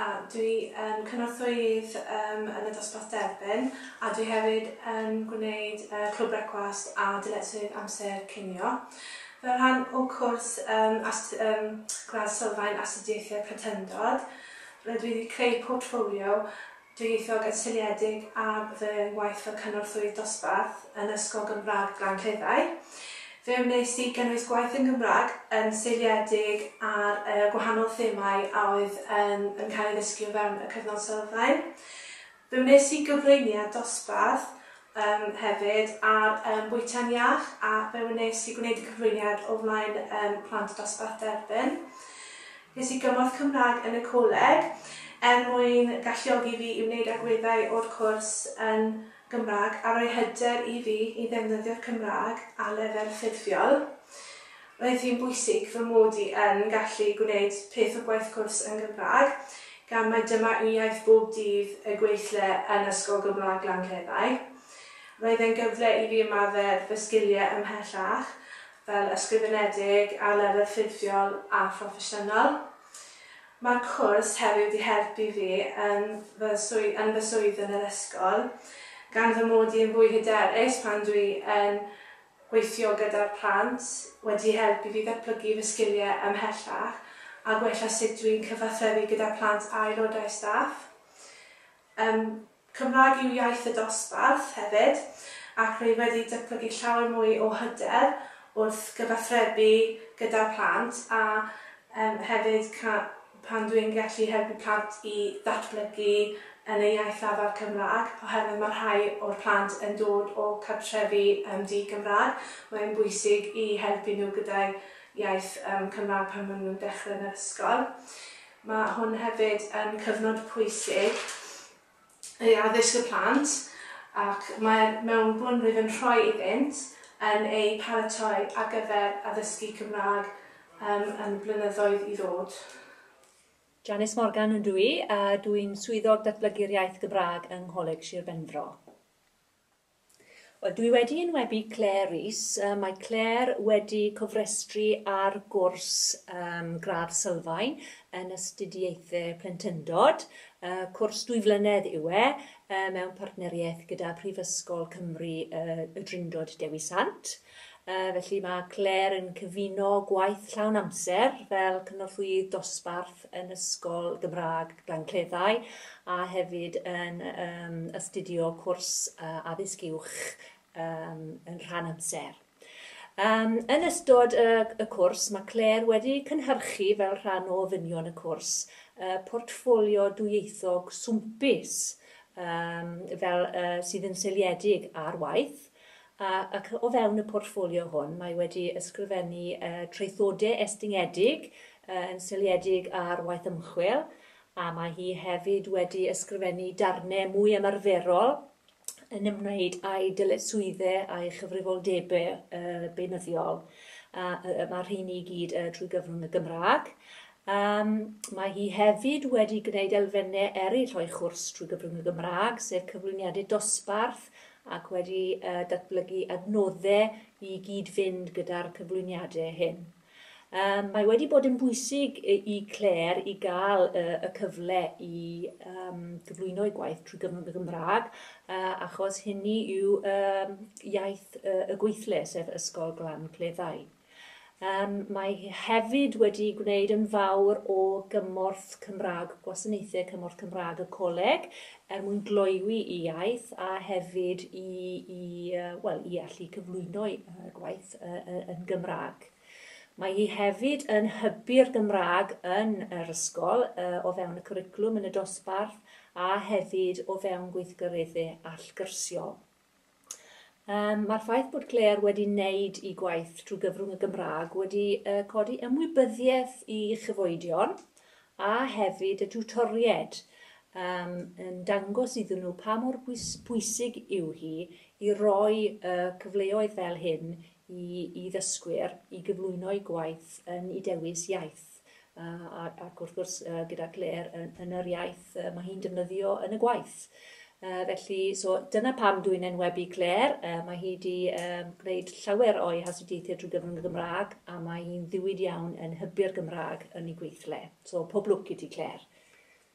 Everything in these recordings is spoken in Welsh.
A dwi yn cynorthwyydd yn y dosbarth derbyn a dwi hefyd yn gwneud Clwb Brecwast a Dyletswydd Amser Cinio. Fel rhan o cwrs Gradd Sylfaen Astudiaethau Plentyndod, rydw i wedi creu portffolio Dwyieithog yn seiliedig ar fy ngwaith fel Cynorthwyydd Dosbarth yn Ysgol Gymraeg Glan Cleddau. Fe wnes i gynnwys gwaith yn Gymraeg yn seiliedig ar y gwahanol themâu a oedd yn yn cael ei ddysgu o fewn y cyfnod sylfaen. Fe wnes i gyflwyniad dosbarth Yym hefyd ar yym bwyta'n iach a fe wnes i gwneud y cyflwyniad o flaen yym plant y dosbarth derbyn. Ges i gymorth Cymraeg yn y coleg er mwyn galluogi fi i wneud agweddau o'r cwrs yn Gymraeg a roi hyder i fi i ddefnyddio'r Cymraeg ar lefel ffurfiol. Roedd hi'n bwysig fy mod i yn gallu gwneud peth o gwaith cwrs yn Gymraeg, gan mai dyma yw iaith bob dydd y gweithle yn Ysgol Gymraeg Lanrheddau. Roedd e'n gyfle i fi ymarfer fy sgiliau ymhellach fel ysgrifenedig, arlefydd ffurfiol a phroffesiynol. Mae'r cwrs hefyd wedi helpu fi yn fy yn fy swydd yn yr ysgol, gan fy mod i yn fwy hyderus pan dwi yn gweithio gyda'r plant wedi helpu fi ddatblygu fy sgiliau ymhellach a gwella sut dw i'n cyfathrebu gyda phlant a aelodau staff. Ym Cymraeg yw iaith y dosbarth hefyd ac rwy wedi datblygu llawer mwy o hyder wrth gyfathrebu gyda'r plant a hefyd pan dwi'n gallu helpu plant i ddatblygu yn eu iaith lafar Cymraeg, oherwydd mae rhai o'r plant yn dod o cartrefi yym di-Gymraeg, mae'n bwysig i helpu nhw gyda'u iaith yym Cymraeg pan maen nhw'n dechrau yn yr ysgol. Mae hwn hefyd yn cyfnod pwysig ei addysg y plant ac mae'r mewnbwn rwyf yn rhoi iddynt yn eu paratoi ar gyfer addysgu Cymraeg yn y blynyddoedd i ddod. Janice Morgan ydw i a dw i'n Swyddog Datblygu'r Iaith Gymraeg yng Ngholeg Sir Benfro. Wel, dwi wedi enwebu Claire Rees. Yy mae Claire wedi cofrestru ar gwrs um, gradd sylfaen yn astudiaethe plentyndod. Uh, cwrs dwy flynedd yw e, uh, mewn partneriaeth gyda Prifysgol Cymru uh, y Drindod Dewi Sant. Yy, felly mae Claire yn cyfuno gwaith llawn amser fel cynorthwyydd dosbarth yn Ysgol Gymraeg Glencleddau a hefyd yn um, astudio cwrs uh, addysg uwch um, yn rhan amser. Um, yn ystod y, y cwrs, mae Claire wedi cynhyrchu fel rhan o ddynion y cwrs uh, portffolio dwyieithog swmpus um, fel, uh, sydd yn seiliedig ar waith ac o fewn y portffolio hwn mae wedi ysgrifennu traethodau estyngedig yn seiliedig ar waith ymchwil, a mae hi hefyd wedi ysgrifennu darnau mwy ymarferol yn ymwneud â'i dyletswyddau a'i chyfrifoldebau beunyddiol, a mae'r rheiny i gyd trwy gyfrwng y Gymraeg. Yym, mae hi hefyd wedi gwneud elfenne eraill o'i chwrs trwy gyfrwng y Gymraeg, sef cyflwyniadau dosbarth ac wedi yy datblygu adnoddau i gyd-fynd gyda'r cyflwyniadau hyn. Yym, mae wedi bod yn bwysig i i Claire i gael y y cyfle i yym gyflwyno'i gwaith trwy gyfrwng y Gymraeg yy achos hynny yw yym iaith y y gweithle, sef Ysgol Glan Cleddau. Mae hi hefyd wedi gwneud yn fawr o gymorth Cymraeg, gwasanaethau cymorth Cymraeg y coleg, er mwyn gloywi i iaith a hefyd i, i, wel, i allu cyflwyno'i gwaith yn Gymraeg. Mae hi hefyd yn hybu'r Gymraeg yn yr ysgol o fewn y cwricwlwm yn y dosbarth a hefyd o fewn gweithgareddau allgyrsiol. Yym, mae'r ffaith bod Claire wedi wneud i gwaith drwy gyfrwng y Gymraeg wedi uh, codi ymwybyddiaeth i chyfoedion a hefyd y tiwtoried um, yn dangos iddyn nhw pa mor bwysig yw hi i roi uh, cyfleoedd fel hyn i, i ddysgwyr i gyflwyno'i gwaith yn i dewis iaith. ac wrth gwrs gyda Claire yn, yn yr iaith mae hi'n defnyddio yn y gwaith. Uh, felly, so dyna pam dwi'n enwebu Claire. Uh, mae hi wedi um, gwneud llawer o'i hastudiaethau drwy gyfrwng y Gymraeg a mae hi'n ddiwyd iawn yn hybu'r Gymraeg yn ei gweithle. So pob lwc i ti Claire.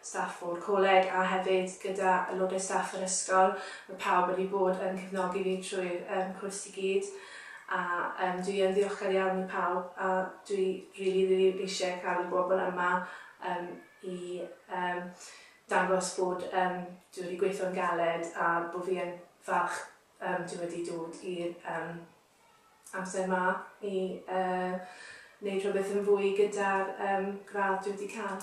staff o'r coleg a hefyd gyda aelodau staff yr ysgol. Mae pawb wedi bod yn cefnogi fi trwy'r um, cwrs i gyd a um, dwi yn ddiolchgar iawn i pawb a dwi rili, really, rili eisiau cael y bobl yma um, i um, dangos bod um, dwi wedi gweithio'n galed a bod fi yn falch um, dwi wedi dod i'r um, amser 'ma i wneud rhywbeth yn fwy gyda'r gradd dwi wedi cael.